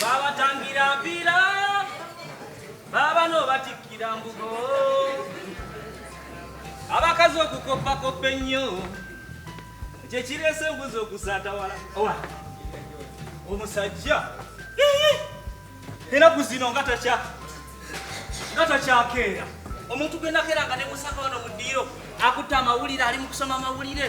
babatangira mpira baba nobatikkira mbugo abakazi okukoppakoppa ennyo kyekirese embuzi okusaatawala owa omusajja enaku zino nga takya nga takyakeera omuntu gwenakera nga nemusaka wano mu ddiiro akutte amawulire ali mu kusoma amawulire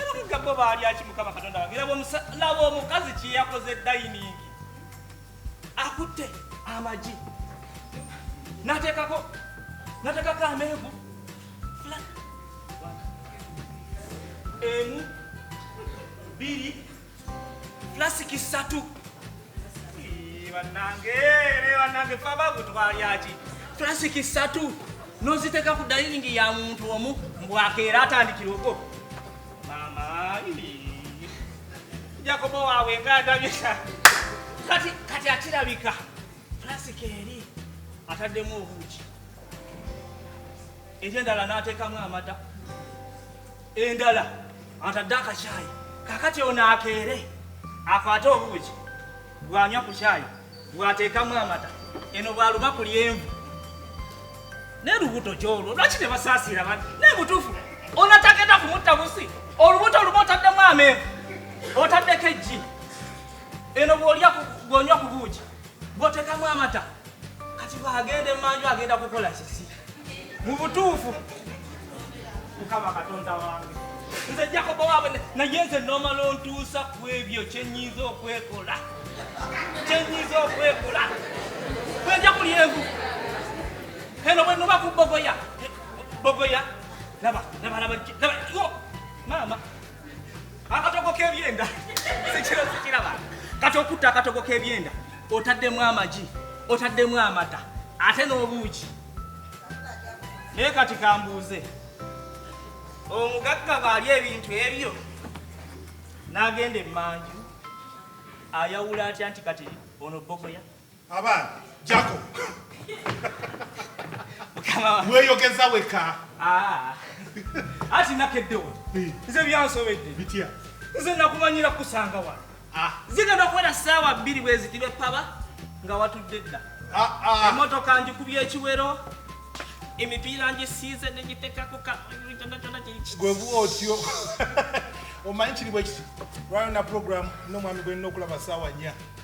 abagagga bo baalya ki mukama katonda wange laba omukazi kyeyakoze dayiningi akutte amagi nateekako nateekako amenvu emu biri Plastic satu. Banange, banange faba kutwalyaki. Plastic satu. Noziteka ku dining ya muntu omu mbwakeera atandikira ogwo. Mama, Jacobo wawe nga adabisa. Kati kati akirabika. Plastic eri ataddemu obuuki. Ekyendala n'ateekamu amata. endala atadde akakyayi kakati ono akeere akwate obuugi bwanywa ku kyayi bwateekamu amata eno bwaluba ku lyenvu naye lubuto kyolwo lwaki ne basaasiira bani naye butuufu onatagenda kumutta busi olubuto oluba otaddemu amenvu otaddeko ejji eno bwolya bwonywa ku buugi botekamu amata kati bwagenda emanju agenda kukola kiki mu butuufu mukama katonda wange nze jakobo waabwe naye nze nomala ontuusa ku ebyo kyenyiza okwekola kyenyiza okwekola bwenja kuli envu eno bwenuba ku bogoya bogoya laba laba laba maama akatogo k'ebyenda sikiro sikiraba kati okutta akatogo k'ebyenda otaddemu amagi otaddemu amata ate n'obuuki naye kati kambuuze omugagga bwali ebintu ebyo n'agenda emmanju ayawula atya nti kati ono bogoya Abaana jako weyogeza weka ah. ati nakeddewo nze byansobedde bitya nze nakumanyira kusanga wano ah. zigenda okuwera saawa bbiri bweziti bepaba nga watudde dda ah, emotoka njikubya ekiwero emipiira ngisiize negiteka kukaonakyonakyona kigwebuwa otyo omanyi kiri bwekiti lwayona programu nomwami gwenina okulaba saawa nya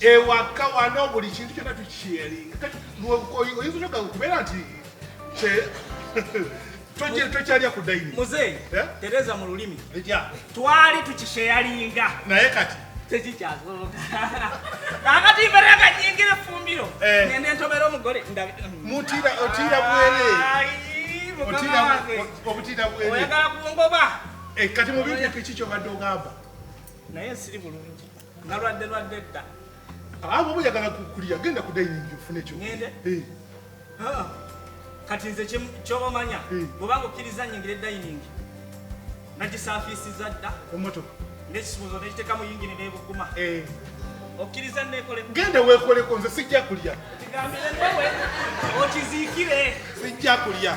ewaka wano buli kintu kyona tukisheyalinga kati oyinza onoga kubeera nti tokyalya ku daini muzeeyi eh? tereza mu lulimi twali tukisheyalinga naye kati tekikyasoboka akati mbere akanyingira efumbiro eh. ngende ntobera omugole mutira otira bwere obutira bwere oyagala kungoba eh, kati mubintu ekyo kikyo badde ogamba naye siri bulungi Nalwadde lwadde dda. Ah, abo boyagala kukulya genda ku dining ofune ekyo. Ngende. Eh. Ah. Kati nze ky'omanya eh. bw'obanga okkiriza nyingire dining nagisaafiisiza dda. Emmotoka. N'ekisuuzo n'ekiteeka mu yingini n'ebuguma. Eh. Okkiriza nneekole. Genda weekoleko nze sijja kulya. Kigambire nnewe okiziikire. Sijja kulya.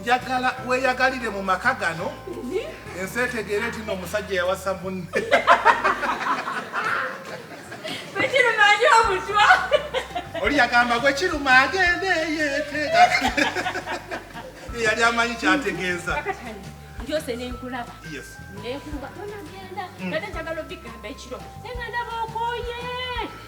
njagala weyagalire mu maka gano ensi etegeere nti no omusajja yawasa munne oli yagamba gwe kiruma agende yeteeka eyali amanyi kyategeeza byose nenkulaba nenkulaba tonagenda nate njagala obigambo ekiro nengandaba okoye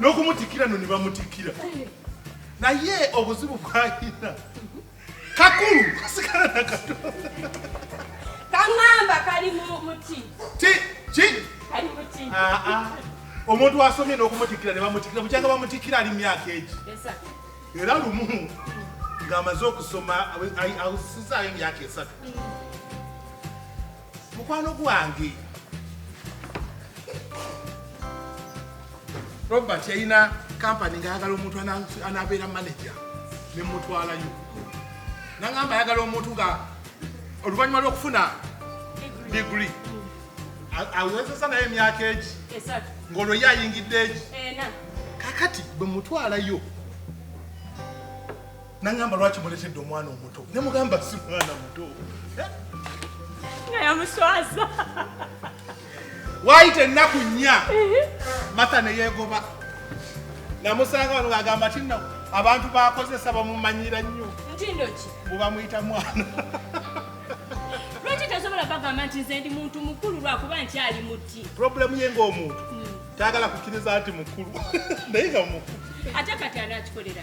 n'okumutikira no ne bamutikira naye obuzibu bwayina kakulu kasigala nakato kaŋamba kali muti ki ki kali muti ah, ah. omuntu asomye n'okumutikira ne bamutikira bukyanga bamutikira ali myaka egi era lumu ng'amaze okusoma awusizaayo emyaka esatu mm. mukwano gwange robert yalina kampani ngaayagala omuntu anabeera manaja nemutwalayo nagamba ayagala omuntu nga oluvannyuma lwokufuna digri awezesa naye emyaka egi ngaolwo ye ayingidde egi kakati bwemutwalayo nangamba lwaki muletedde omwana omuto nemugamba si mwana muto eh? nga yamuswaza waayita ennaku nnya mata neyeegoba namusanga wano agamba ti no abantu bakozesa bamumanyira nnyo ntindoki bubamuyita mwana lwaki tasobola bagamba nti nze ndi muntu mukulu lwakuba nkyali muti problemu ye ngaomuntu hmm. tayagala kukkiriza nti mukulu naye nga mukulu ate kati anaakikolera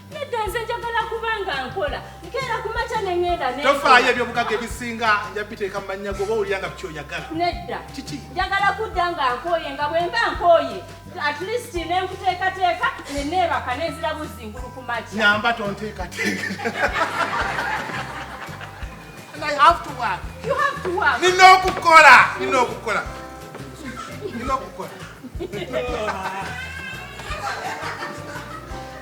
nedda nze njagala kuba nga nkola nkeera ku makya ne ŋŋenda ne tofaayo eby'obugagga ebisinga nja biteeka mu mannya goba owulira nga bikyoyagala nedda kiki njagala kudda nga nkooye nga bwe mba nkooye at least ne nkuteekateeka ne neebaka ne nzira buzzingulu ku makya nyamba tonteekateeka nina okukola nina okukola nina okukola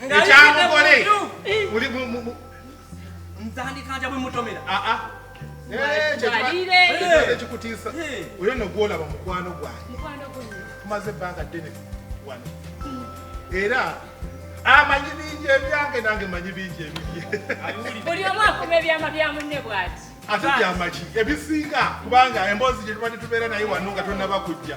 ekyamugole muli nzandikanja bwe mutomera aa ekikutiisa oyo no gwolaba mukwano gwange tumaze ebbanga ddene wano era amanyi bingi ebyange nange manyi bingi ebibye buli omu akuma ebyama bya munne bwati ate byamaki ebisinga kubanga emboozi gye tubadde tubeera naye wano nga tonaba kujja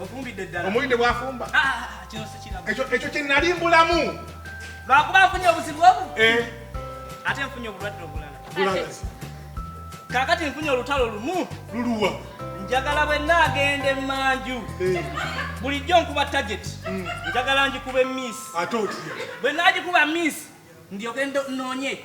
omuwulidde bwafumba ah, ah, ah, ekyo kyenali mbulamu lwakuba nfunye obuzibu obu eh. ate nfunye obulwadde obulala kakati nfunye olutalo lumu luluwa njagala bwe naagenda emanju eh. bulijjo nkuba target mm. njagala ngikuba emiisi bwe naagikuba miisi ndyoke noonye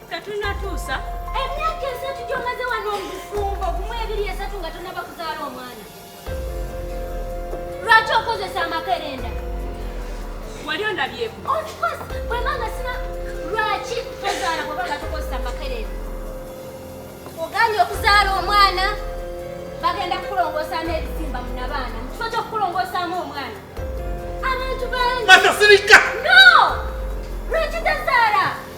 tetunatuusa emyaka esatu gyomaze wano omufumbo gumu ebiri esatu nga tonaba kuzaala omwana lwaki okozesa amakerenda wali ondabyeko ofcourse bwemanga sina lwaki tozaala bwebanga tokozesa amakerenda ogambye okuzaala omwana bagenda kukulongosaamu ebisimba munabaana mukifo kyokukulongosaamu omwana abantu bangi no lwaki tazaala